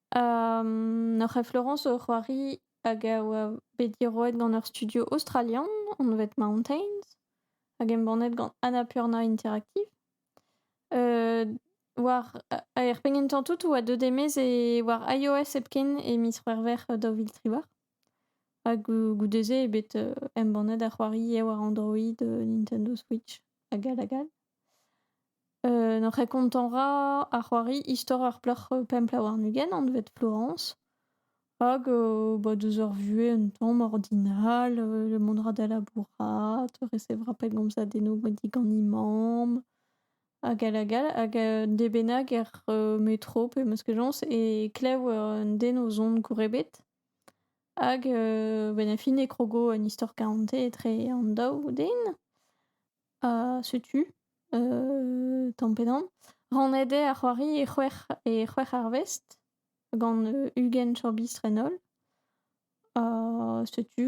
Ur c'hef Laurence eo c'hoari hag a oa bet diroet gant ur studio aostralian anvet Mountains hag embannet gant Annapurna Interactive. war er penn gentañ tout oa deuet e-maez e war iOS hepken e miz C'hwevrer daou vil triwec'h hag goude-se eo bet embannet ar c'hoari eo war Android, Nintendo Switch hag all hag all. N'oc'h ket kontañ 'ra ar c'hoari istor ur plac'h pemp la warn-ugent anvet Florence hag bah deus ur vuhez un tamm ordinal, mont 'ra da labourat, resevra pellgomz a dennoù digant he mamm hag all hag all hag un den bennak er metro pe meskajañs e klev un den o zont gour ebet hag benn ar fin e krogo un istor karante etre an daou den. Ha setu, tamm pe damm, rannet eo ar c'hoari e c'hwec'h e c'hwec'h arvest gant ugent chorbistr-en-holl. Ha setu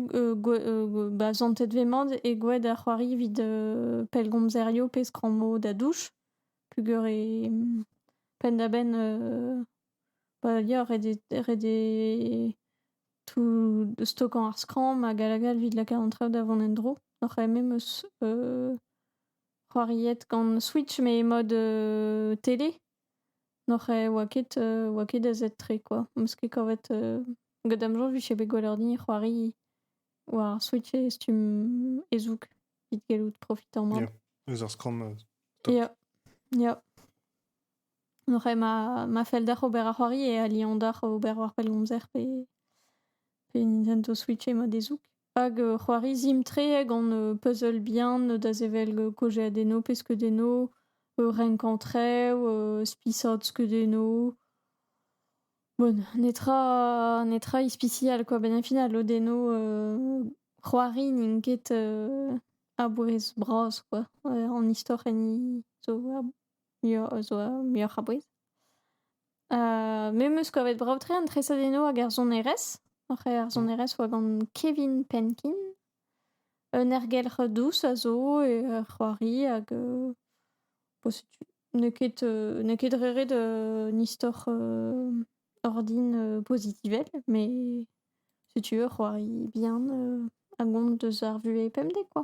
ba santet vez mat e gwad ar c'hoari evit pellgomzerioù pe skrammou da douch peogwir e penn-da-benn ba ya ret eo ret eo tout stokañ ar skramm hag hag hag evit lakaat an traoù da vont en-dro. Oc'h eme 'm eus c'hoariet gant Switch met mode télé. N'oc'h oa ket oa ket azetr-tre kwa. 'm eus ket kavet gant da'm soñj 'vije bet gwelloc'h din c'hoari war ar Switch e stumm e-zoug evit gallout profitañ mat. Ya, eus ar skramm. top. Ya, ya. Oc'h eo ma, ma fell deoc'h ober ar c'hoari e aliañ deoc'h ober war pellgomzer pe, pe intento switcher ma dezoug. Hag c'hoari sim-tre gant puzzle bihan da sevel kaozeadennoù pe skeudennoù, renkañ traoù, spisaat skeudennoù. Bon, netra, netra ispisial kwa, benn ar final lodennoù c'hoari n'int ket a-bouez bras kwa, an istor enni zo Yo zo muioc'h a bouez. me 'm eus kavet brav-tre an tresadennoù hag ar sonerezh. Oc'h eo ar sonerezh 'oa gant Kevin Penkin. Un ergelc'h dous a zo e ur c'hoari hag bo setu n'eo ket n'eo ket re ret un istor ordin pozitivel met setu ur c'hoari bihan a gont deus ar vuhez pemdek kwa.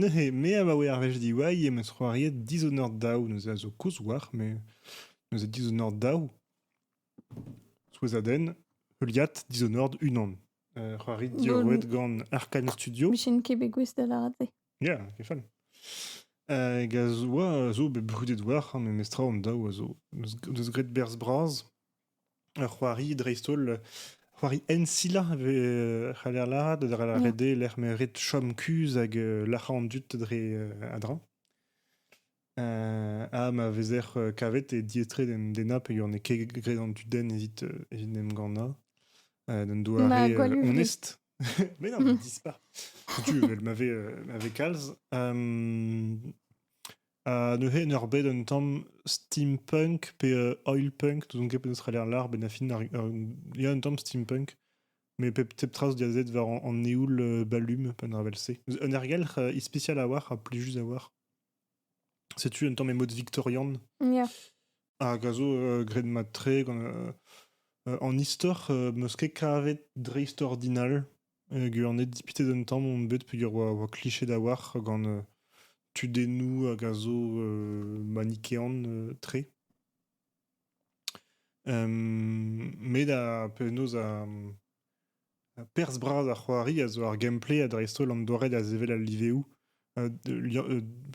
neuze me abaoe ar wech diwall em eus c'hoariet dizonor daou neuze a zo kozh oac'h met neuze dizonor daou souezhadenn heuliad dizonord unan c'hoari diorroet gant Arcane Studio Michen ket bet gouest da lâret se. Ya, ket fall. Hag a zo a zo bet brudet oac'h met mestrañ an daou a zo. Deus graet berzh bras. Ur c'hoari dreist-holl, c'hoari ensilañ e vez euh, c'haller lâret, a Mm. ret dezhe lec'h ma ret chom kuzh hag euh, lârañ an dud dre euh, a-dreñv. Euh, ha ma vezer euh, kavet e diaes-tre d'en dennañ peogwir n'eo ket graet an dudenn evit euh, evit en em gannañ. Euh, d'un doare Ma euh, Gwalouve. onest. Mais non, mais dis pas. Setu, evel ma fait, euh, ma fait calz. Euh, Ha neuze, en ur bed un tamm steampunk pe euh, oil punk, n'ouzon ket penaos c'haller l'art, ben a fin, ar- ar- il y a un tamm steampunk, mais pep, pep trace diazet war an, an eoul euh, balum, un ravel-se. Un ergelc'h euh, ispicial à voir, à plus juste à voir. Setu un tamm emod victorian, Ya. hag a zo euh, graet mat-tre gant... euh, euh, en istor, euh, 'm eus ket kavet dreist-ordinal, Ur dipitet un tamm on bet peogwir oa oa kliched a-walc'h gant tudennoù hag a zo manikean-tre. met ha penaos ha perzh bras ar c'hoari a zo ar gameplay ha dreist-holl an doare da sevel al liveoù.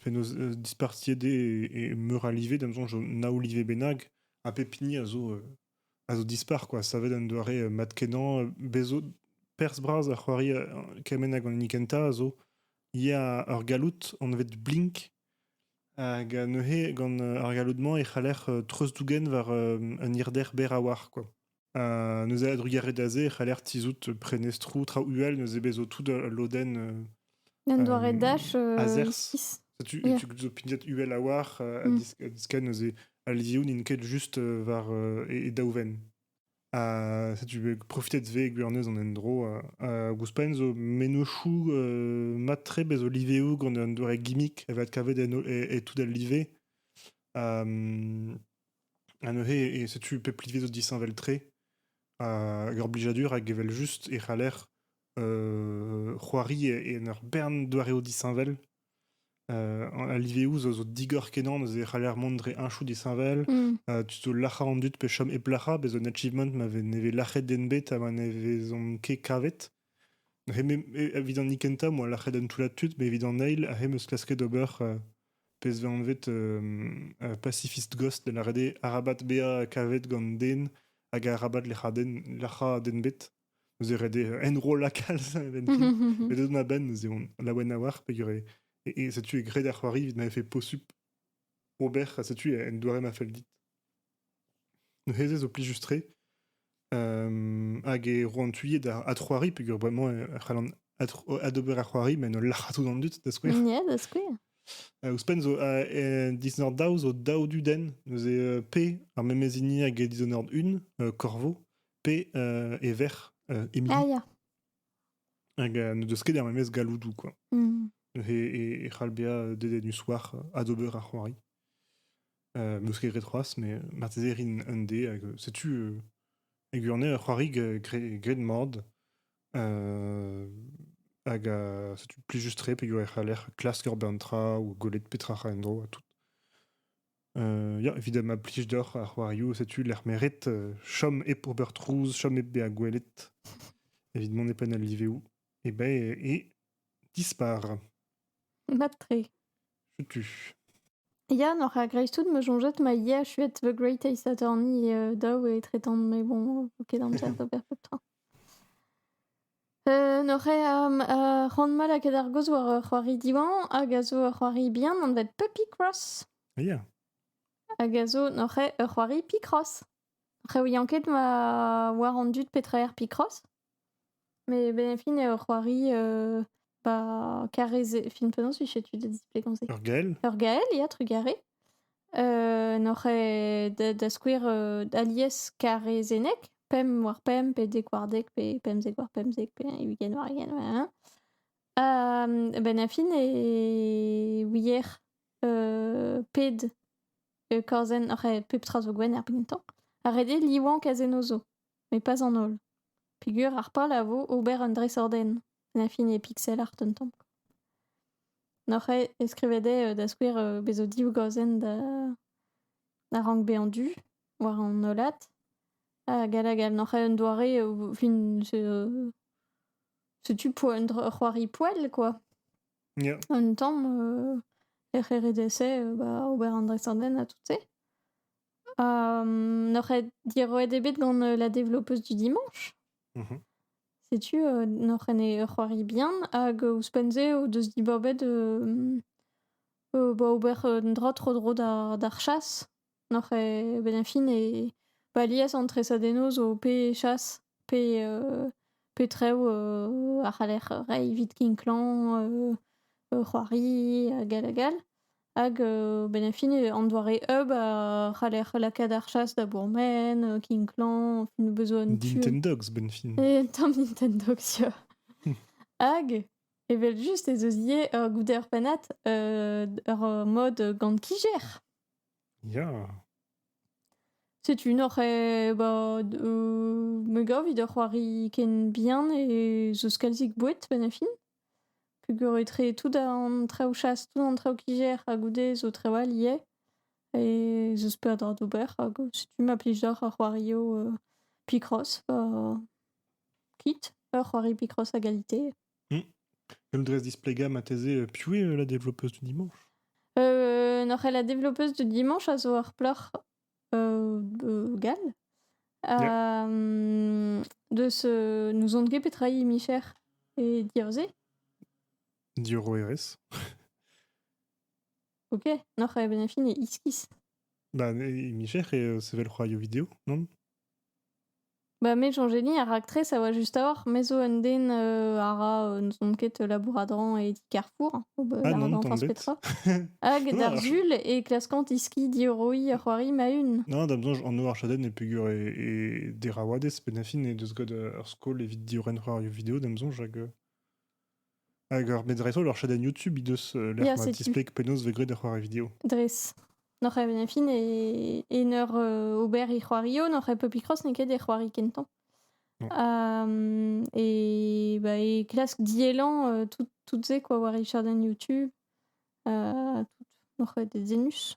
penaos dispartiet eo e meur a live da 'm soñj naou live bennak ha pep hini a zo a zo dispar, quoi. Savet un doare mat-kenañ. Bez zo perzh-bras a c'hoari kement hag an hini kentañ a zo ya ur galloud anvet Blink. Hag neuze, gant ar galloud-mañ, e c'haller treuzdougen war un hirder berr a-walc'h, quoi. Ha neuze, a-drugarez da se, e c'haller tizhout prenestroù, traoù uhel, neuze bez zo tout ul lodenn Un doare dash euh, ici. Tu, et tu pignat UL à war à mm. disken eus Alzioun in ket just euh, war euh, e, e daouven. A tu profité de ve gwernez an endro a gouspain zo menochou matre bez oliveu gant un doare gimmick e vat kavet en e, tout al live. Um, e, e setu pep live zo disheñvel tre. A gorblijadur hag evel just e c'haller c'hoari en ur bern doareoù disheñvel. a liveoù zo, zo digor-kenañ neuze e c'haller mont dre heñchoù disheñvel. Mm. tu zo lac'hañ an dud pe chom hep lac'hañ. Bez' un achievement ma vez ne vez lac'het den bet ha ma ne vezont ket kavet. Hep, evit an kentañ, moa lac'het un toullad tud, mais evit an eil, hep eus klasket ober uh, pezh vez anvet uh, Pacifist Ghost, da lâret eo arabat bezañ kavet gant den hag arabat lec'hañ den, lac'hañ den bet. Neuze ret eo enrollañ kalz a-benn Mais dedans a-benn, neuze on laouen a oar peger eo. Et, et setu e graet ar c'hoari evit ma vefe posupl ober, ha setu un doare ma fell dit. Neuze ez zo plijus-tre. Euh, hag e roan tuillet ar adc'hoari, peger bremañ e c'hallan adc'ho- adober ar c'hoari, met ul lac'had tout an dud, da skouer. Ya, da skouer. Uh, ouzhpenn zo uh, uh, disnord daou zo daou dudenn, neuze uh, P, ar memez hini hag e dishonored un, uh, Corvo, pe e verc'h Emily. Ah, Hag n'o deus ket er memes galloudou, quoi. Mm. E, e, c'halbia dedennus war adober ar c'hoari. Euh, n'eus ket ret c'hoaz, mais marteze rin un dé. Hag, setu, euh, e gwirne, ur c'hoari gret mad. Euh, hag euh, setu plus juste re, pe ur c'haller klask ur bern tra, ou golet petra ra en dro, ha tout. Ya, evit ma plij deoc'h ar c'hoarioù, setu lec'h meret. euh, chom hep ober trouz, chom hep bezañ gwelet evit mont e penn al liveoù. E ben, e dispar. Mat-tre. Setu. Yann, oc'h ar greiztoud, me soñjet ma yer chuet The Great Ace Attorney euh, daou e tretan, mais bon, ok, d'amzer d'ober pep tra. Hoc'h eo ar c'hoant mat lakaat ar gaoz war ur c'hoari Diwan hag a zo ur c'hoari bihan anvet Puppy-Cross. Ya. Hag a zo hoc'h eo ur c'hoari Picross. Hoc'h ouian ket ma war an dud petra eo ar Picross. Met ben e fin eo ur c'hoari euh, ba karrez e fin penaos 'vije tu da displegañ se? Ur gael? Ur gael, ya, trugarez. n'oc'h ket da da skouer alies karrezenneg, pemp war pemp pe dek war dek pe pemzek war pemzek pe ugent war ugent benn ar fin e ouier ped korzenn oc'h eo pep tra zo gwenn er gentañ ha ret eo livañ kazennoù zo. met pas an holl peger ar pal a vo ober un dresañdenn l'infini e pixel art un tamm n'oc'h eo e skrivet eo da skouer bez zo div gazenn da da rank bezañ du war an hollad hag hag all n'oc'h eo un doare fin setu un c'hoari poell quoi Ya. un tamm lec'h RDS ober an dresañdenn ha tout-se N'oc'h ket diroet ebet gant la développeuse du dimanche Mhm. Setu euh, n'oc'h en e c'hoari bihan hag euh, ouzhpenn-se o deus dibabet euh, euh, bah, ober un dra tro-dro d'ar d'ar chasse. N'oc'h e ben fin e balias an tresadennoz o pe chasse, pe, euh, pe trev euh, a c'haller reiñ evit kinklañ euh, euh, c'hoari hag all hag all. Hag euh, ben, à fin, euh, an doare hub a c'haller lakaat ar chasse da bourmen, euh, King Clan, nos besoins tu. Nintendogs, Benfin. Et tant Nintendogs, ya. Hag, evel just ez eus ivez ur gouder pennad euh, ur mode gant kijer. Ya. Setu un oc'h eh, ba, d- euh, me gav vid ur c'hoari ken bien e zo kalzik boued ben a fin. Peogwir etre tout an traoù chas, tout an traoù-kijer ha goude zo traoù all ivez. E ez eus peadra d'ober hag setu ma plij deoc'h ar c'hoarioù Picross ha kit, ur c'hoari Picross a galite. Em dres displegañ marteze, piv eo la développeuse du dimanche? N'oc'h ket la développeuse du dimanche a zo ur plac'h Gall. Deus n'ouzon ket petra eo he micher e diaoul-se. Diorroerezh. Ok, noc'h e benn ar fin e iskis. Ba, he micher eo sevel c'hoarioù video, non? Bah met Jean-Gény, ar raktres, a oa juste a-hoc'h. Me zo un den euh, a ra, euh, ne sont quête labouradran et carrefour, bah, Ah non, tant bête. Hag Non, alors, d'Arzul et classquant iski dioroi c'hoari ma une. non, da besoin, en Noirchadaine, e pegur e, e derawades, penafin, e deus gant ur skol evit diorren c'hoarioù video, da besoin, jag euh, Hag ur met dreist-holl ur chadenn YouTube he deus euh, l'air Yeah, ma c'est display penaos vez graet ar c'hoari vidéo. dres. Noc'h e fin e, e eur euh, ober e c'hoario, noc'h e Pupicross n'eo ket e c'hoari kentañ. Non. Um, et bah, et klask diellan euh, tout, toutes se quoi war e chadenn YouTube. Euh, tout noc'h e de zenus.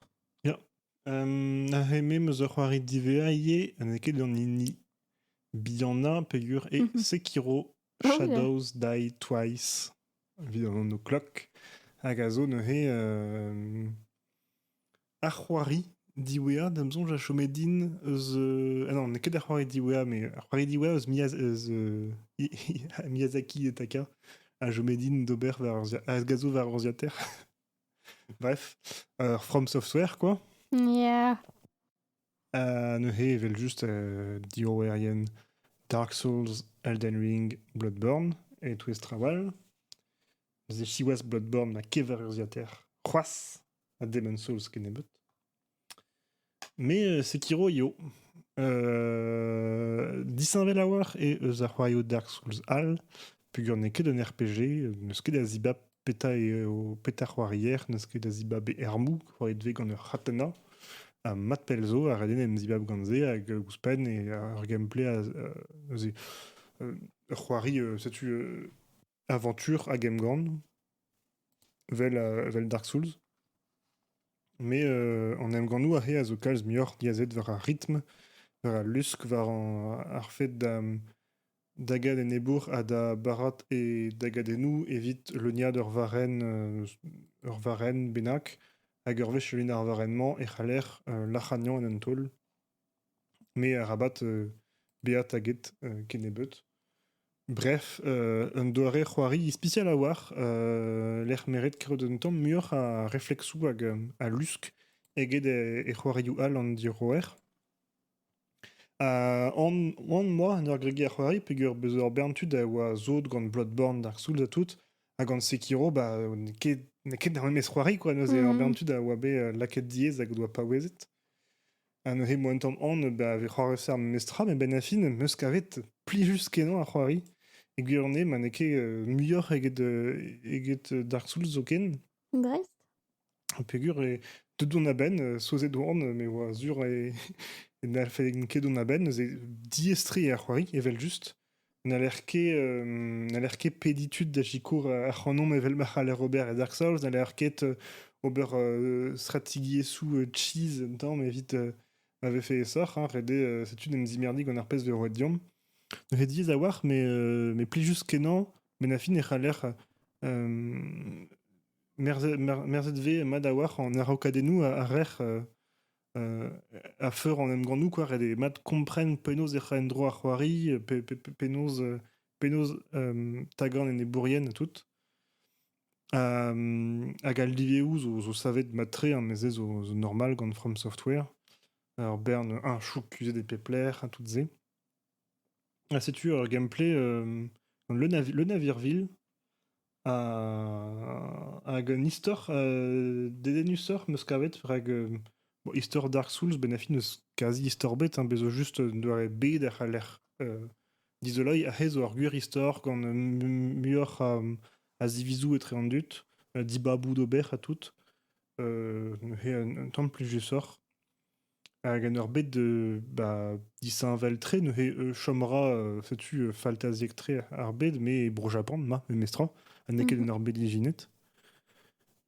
Um, a heme meus ur c'hoari divea ivez, ha n'eo ket an hini. Bihanna peger e Mhm. Sekiro Shadows Die Twice evit an anv klok, hag a zo neuze euh, ar c'hoari diwezhañ d'am soñj a chome din eus... euh, ah non, n'eo ket ar c'hoari diwezhañ, mais ar c'hoari diwezhañ eus Miya- eus euh, I- I- Miyazaki et Taka a chome din d'ober war ur urzia- a gaso war ur urzhiataer. Bref, euh, From Software, quoi. Yeah. neuze evel-just diorroerien Dark Souls, Elden Ring, Bloodborne e-touez traoù all. Neuze siwazh Bloodborne ma kever urzhiataer c'hoazh ha Demon's Souls kennebeut. Mais Sekiro eo. disheñvel a-walc'h eo eus ar c'hoarioù Dark Souls all, peogwir n'eo ket un RPG, n'eus ket da zibab Petra eo petra c'hoarier n'eus ket da zibab e armoù, c'hoariet vez gant ur c'hatena. Ha mat pell zo, a reden en zibab gant se, hag ouzhpenn, e ur gameplay a, neuze, ur c'hoari, setu, aventure hag emgann, vel, vel Dark Souls. Mais an emgannoù aze a zo kalz muioc'h diazet war ar ritm, war al lusk, war ar fed da da get enebour ha da barat e dagadennoù evit leuniañ ur varrenn ur varrenn bennak hag ur wech leuniañ ar varrenn-mañ e c'haller lac'hagnañ en un taol me arabat bezañ taget kennebeut. Bref, un doare c'hoari ispisial a-walc'h lec'h meret kaout un tamm muioc'h a refleksoù hag a lusk eget e c'hoarioù all an diroer. An moa en ur gregiñ ar c'hoari peogwir beus ur bern tud a oa sot gant Bloodborne, Dark Souls ha tout, ha gant Sekiro bah n'eo ket n'eo ket ar memes c'hoari quoi neuze ur bern tud a oa bet lakaet diaes hag o doa paouezet. Ha neuze mo un tamm aon bah vez c'hoarvezet ar memes tra met benn ar fin 'm eus kavet plijus-kenañ ar c'hoari. E gwir on eo ma n'eo ket muioc'h eget eget Dark Souls zoken. Dreist? Peger eo deuet on a-benn, euh, souezhet oan, me oa sur e e n'allfen ket dont a-benn, neuze diaestri ar c'hoari evel-just. N'haller ket euh, n'haller ket pediñ tud da sikour euh, ac'hanomp evel ma c'haller ober e Dark Souls, n'haller ket euh, ober euh, stratigiezhioù euh, cheese un tamm evit euh, ma vefe aesoc'h, hein, ret eo, euh, setu d'em zimerdi gant ar pezh 'vez roet deomp. Neuze diaes a-walc'h, mais, euh, mais plijus-kenañ Benn ar fin e c'haller euh, merzet, merzet vez mat a-walc'h an araokadennoù a, rec'h euh, euh, a feur an emgannoù quoi. Ret eo mat kompren penaos ec'h a en-dro ar c'hoari, pe, pe, penaos, penaos tagan enebourien tout. hag al liveoù zo, zo savet mat-tre, hein, mes zo, zo normal gant From Software. Ur bern, un chouk kuzhet e pep lec'h, tout se. Ha setu ur gameplay euh, gant le, navi- le navirville ha- hag un istor euh, dedennusoc'h 'm eus kavet rak euh, bon, istor Dark Souls benn ar fin n'eus kazi istor bet, hein, bez zo just un doare bed a c'haller euh, dizoloiñ aze zo ur gwir istor gant euh, mu- muioc'h a, a zivizoù etre an dud, euh, dibaboù d'ober ha tout. Euh, he un, un tamm plijusoc'h. Hag en ur bet de bah, disheñvel-tre neuze euh, chom 'ra euh, setu euh, faltaziek-tre ar bed met Bro-Japan ma memestra ha n'eo ket Mhm. en ur bed ijinet.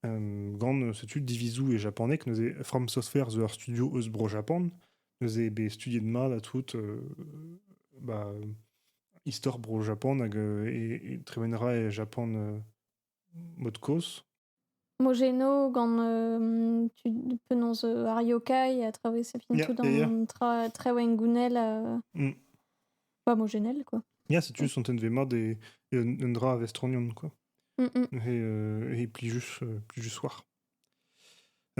Hem, gant euh, setu divizoù e japaneg neuze From Software zo ur studio eus Bro-Japan neuze bet studiet mat ha tout euh, bah, istor Bro-Japan hag euh, e, e tremenra e Japan euh, mod kozh Mogeno gant euh, tu, penaos euh, ar yokai a traversé fin Yeah, tout yeah, yeah. an tra, traoù gounel euh, Mm. pas mogenel quoi. Ya, setu sontent ve mat e un, un dra a vestronion, quoi. Mm, mm. He, euh, he plijus, euh, plijus war.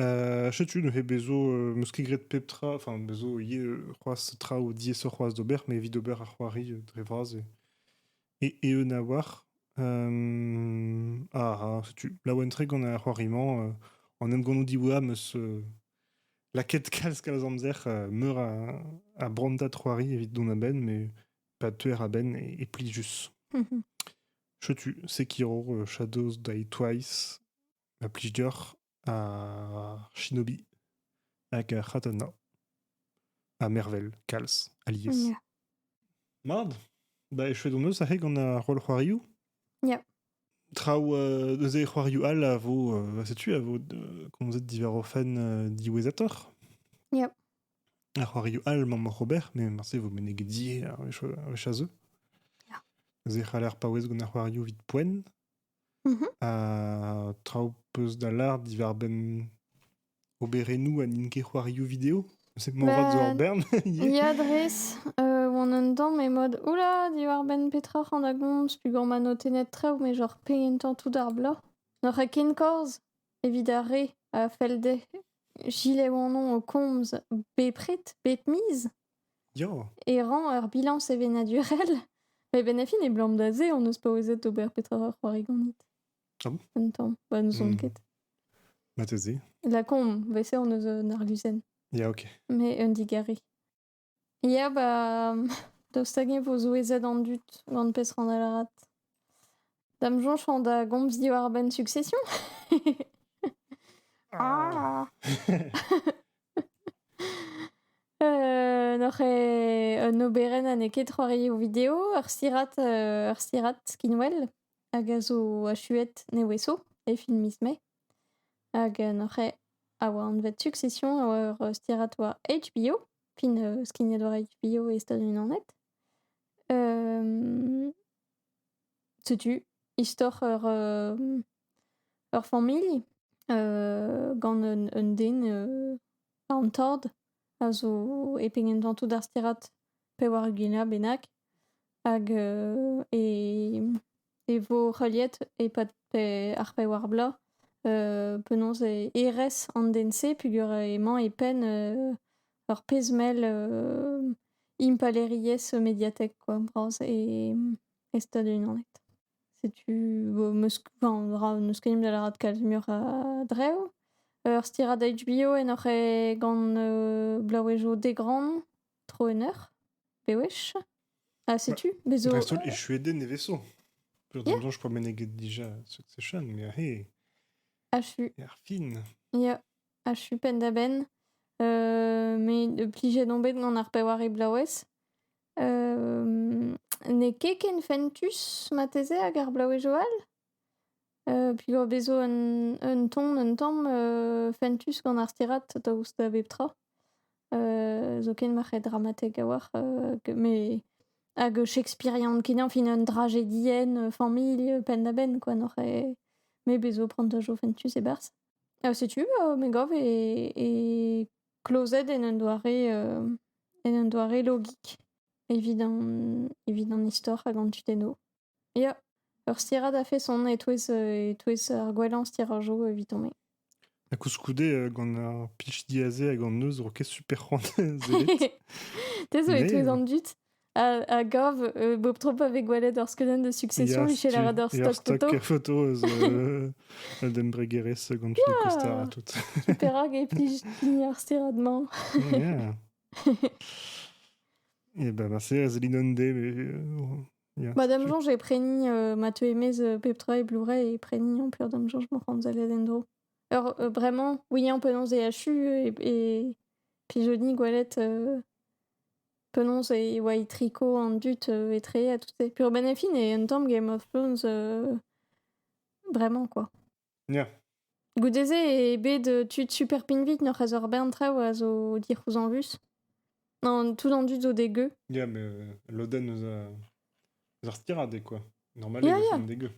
Euh, setu neuze bezo euh, meus ket graet pep tra, enfin bezo ivez euh, c'hoazh traoù diaesoc'h c'hoazh d'ober, mais evit ober ar c'hoari euh, dre vras e, Et eeun a-walc'h. Euh, ah, setu laouen-tre gant ar c'hoari-mañ. euh, an emgannoù diwezhañ 'm eus euh, lakaet kalz kalz amzer euh, meur a, a brantad c'hoari evit dont a-benn, mais pas teuer a-benn et, et plijus. Chetu Sekiro, euh, Shadows Die Twice, la plij dioc'h. ar shinobi hag ar c'hatana. Ha mervel, kalz, alies. Ya. Mad, da echuet hon eus aze gant ar roll c'hoarioù Ya. Traoù euh, eus e c'hoarioù all a vo, euh, setu, a vo euh, komzet diwar o fenn euh, diwezhatoc'h. Ya. Ar c'hoarioù all mamm Robert, mais marse vo meneget die ar wech a zeu. Ya. Ez e c'haller paouez gant ar c'hoarioù vit poent, Mhm. Ha traoù peus da lâr diwar-benn oberennoù ha n'int ket c'hoarioù vidéo? Je sais que mon rat zo ur Ben, bern ivez. ya dres, euh, oan un tamm e mode, oula, diwar-benn petra c'han da gomz, peogwir ma notennet traoù, mais genre pegement tañ tout ar bloaz. N'oc'h ket kenkorz evit ar re a fell dezhe gilet oanon o komz bepred, bet miz? Ya, E rañ ur bilañs sevenadurel? Mais ben a fin abalamour da se on eus paouezet d'ober petra ur c'hoari ganit. Ah bon? Un tamm. Bah n'ouzon Hmm. ket. Marteze. La con, bet se on eus un arguzenn, Ya, ok. mais un digare. Ya, bah daoust hag-eñ vo souezhet an dud gant pezh rann larat? Da'm soñj da gomz diwar-benn Succession. Ah! Euh, n'oc'h eo un oberenn ha n'eo ket c'hoarioù video, ur sirat, euh, ur sirat skinwel hag a zo achuet neveso e fin miz Mae. Hag euh, n'oc'h eo a oa anvet Succession a oa ur stirat war HBO, fin euh, skignet war HBO e Stadoù-Unanet. setu istor ur ur familh gant un un den an tord a zo e pegentañtoù d'ar stirad pevar-ugent bennak hag e e vo heuliet e-pad pe ar pevar bloaz penaos e erez an den-se peogwir emañ e penn ur pezh-mell impalaeriezh mediatek kwa bras e e Stadoù-Unanet. Setu vo am eus enfin ra n'eus ket mui da lâret kalz muioc'h a-dreñv. Ur stirad HBO en hoc'h eo gant Blaouezho Degran. Tro un eur Bewech Ah, setu, bezo... Dreist-holl echuet den neveso. Journal yeah. je prends meneget déjà Succession, mais hey. Achu. Ar fin. Yeah. Achu pen da ben. Euh, mais de plijet on bet gant ar pewar e blaouez. Euh, ne ket ken fentus mateze hag ar blaouez Joal? Pilor 'vezo un ton un tamm fentus gant ar stirad daoust da bep tra. zoken ma c'hed dramatek a-walc'h me hag shakespearian kenañ fin un drajedienn familh penn-da-benn kwa n'oc'h ket. Me 'bezo prantajoù fentus e-barzh. setu me gav e klozet en un doare en un doare logik evit an evit an istor hag an tudennoù. Ya, ur stirad a-feson e-touez e-touez ar gwellañ stirajoù eviton-me. Ha koulskoude gant ar plij diaze hag an neuz 'ro ket super c'hoant sellet. Te zo e-touez an dud a gav bep tro pa vez gwelet ur skeudenn de succession michel lâret ur stock photo. Ur stock photo eus un embregerezh gant Phil Koster ha tout. Super rak e plij hini ar stirad-mañ. Ya. Eh ben, Marseille, Zéline Ondé, mais Ba da'm soñj e preni euh, ma teu e-maez euh, pep tra e Blu-ray e preni ampère da'm soñj m'o c'homzell en-dro. Alors euh, vraiment, oui, en penaos e achu et, et pigeonnier, goélette, euh, penaos e oa e triko an dud euh, etre à toutes ces... Puis Robin et Finn et un tamm Game of Thrones, euh, vraiment quoi. Ya. Goude-se eo bet euh, tud super pinvit n'oc'h eus ur bern traoù a zo dic'houzañvus. Non, tout en dud zo dégueu. Ya, mais euh, l'Oden eus a- eus ar stirade, quoi. Normal, Ya, ils ya. sont dégueux.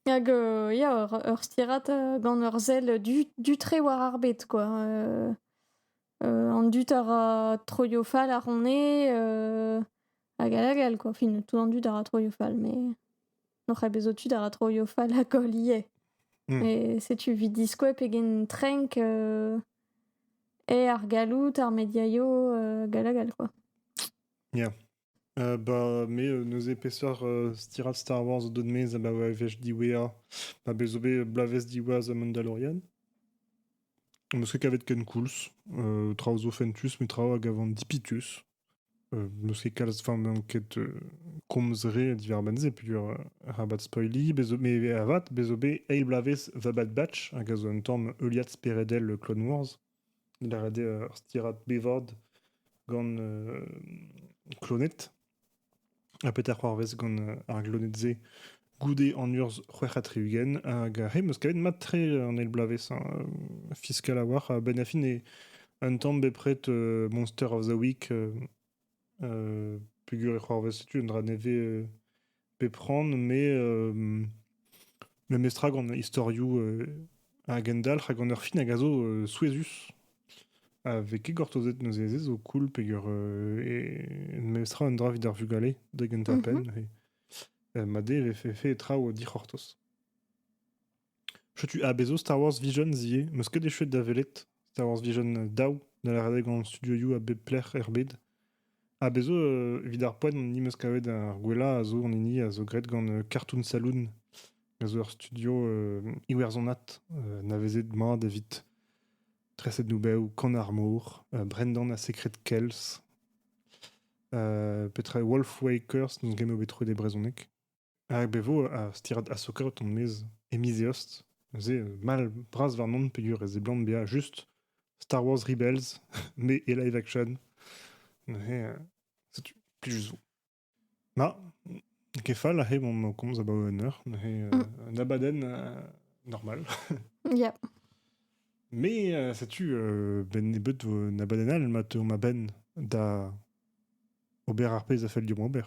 Hag euh, ya, ur, ur stirat euh, gant ur sell du, du tre war ar bet, quoi. Euh, euh, an dud a ra troioù fall ar on eo, euh, hag hag hag, quoi. Fin, tout an dud a ra troioù fall, mais... N'oc'h ket bezo tud a ra troio fall ha koll ivez. Hmm. Et setu vit diskoa pegen trenk euh, eo ar galloud, ar mediaio, euh, gal ha gal, quoi. Yeah. Uh, bah, me, euh, neuze peseurt uh, stirat Star Wars o dod-mez a ba va evech diwea, ma bezo bet blaves diwaz a Mandalorian. Meus ket kavet ken koulz, uh, traoù zo fentus, me traoù a gavan dipitus. N'eus ket kalz van n'on ket komz re diwar-benn-se peogwir arabat spoiliñ, bez' met avat bez' zo bet eil bloavezh The Bad Batch hag a zo un tamm heuliad speredel Clone Wars. Lâret eo ur stirad bevord gant kloned. ha petra c'hoarvez gant euh, ar gloned-se goude an urzh c'hwec'h ha tri-ugent hag euh, he 'm eus kavet mat-tre an eil bloavezh hein. Euh, fiscal a-walc'h ha Ben-Affin eo un tamm bepred euh, Monster of the Week euh, euh, peger e c'hoarvez setu un dra nevez euh, pep c'hoant mais euh, Memestra gant istorioù a gendalc'h ha gant ur fin hag a zo souezhus. A vez ket gortozet neuze ez zo cool peger memestra un dra evit ar vugale da gentañ-penn. Mat eo e vefe traoù dic'hortoz. Setu a bezv Star Wars Visions ivez. 'm eus ket echuet da welet. Star Wars Vision daou da lavaret gant studioioù a bep lec'h er bed. Ha bez' zo, euh, evit ar poent, hon ni meus kavet ar gwellañ a zo an hini a zo graet gant euh, Cartoon Saloon, a zo ur studio euh, iwerzhonat euh, navezet mat evit treset noubeoù Con Armor, euh, Brendan a Secret Kells, euh, petra Wolf Wakers n'eus game bet troet e brezhoneg. Hag e vo ar stirad Asokarot on-maez e miz Eost. Neuze, mall bras warnon peogwir e seblant bezañ just Star Wars Rebels, mais et live action. Neuze, euh, setu, plij zo. Ma, ket fall aze on o komz abaoe un eur. Neuze, euh, un abadenn euh, normal. Yeah. Mais euh, setu euh, ben nebeut vo un abadenn all ma teu ma benn da ober ar pezh a fell dimp ober.